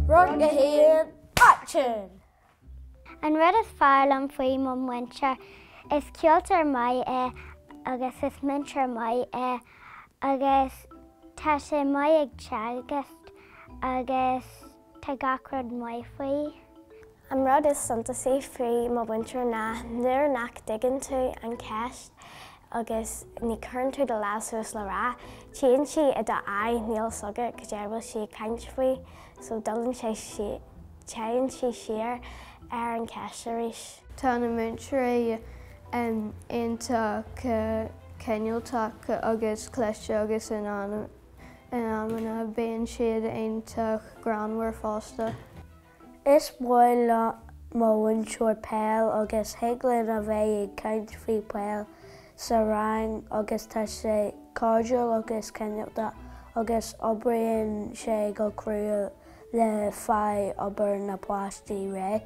Rang 1, Aicsean! An rud is fearr liom faoi mo mhúinteoir, is ceoltóir maith é agus is múinteoir maith é agus tá sé maith ag teagasc agus Tá gach rud maith faoi. An rud is suntasaí faoi mo mhúinteoir ná nuair nach dtuigeann tú an cheist agus ní chuireann tú do lámh suas le rá, tchíonn sí i do aghaidh, níl 'fhios agat caidé a bhfuil sí ag caint faoi, so dtugann sé sí, téann sí siar ar an cheist arís. Tá na múinteoirí iontach cineálta agus cliste agus in ann. In amanna, bíonn siad iontach greannmhar fosta. Is maith le mo mhúinteoir peil agus thig linn a bheith ag caint faoi peil sa rang agus tá sé cairdiúil agus cineálta agus oibríonn sé go crua le fáil obair na bpáistí réidh.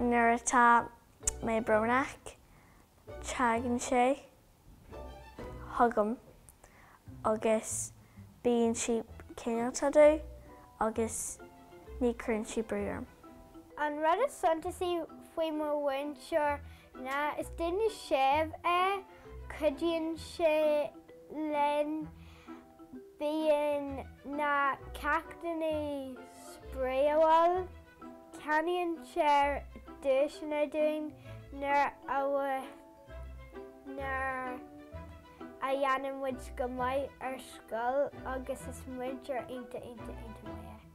Nuair atá mé brónach, teagann sé. chugam agus bíonn sí cineálta domh agus ní chuireann sí brú orm. An rud is suntasaí faoi mo mhúinteoir ná is duine séimh é, cuidíonn sé linn, bíonn na ceachtanna spraíúil, ceannaíonn sé duaiseanna dúinn nuair a. nuair a dhéanann muid go maith ar scoil agus is múinteoir iontach iontach iontach maith é.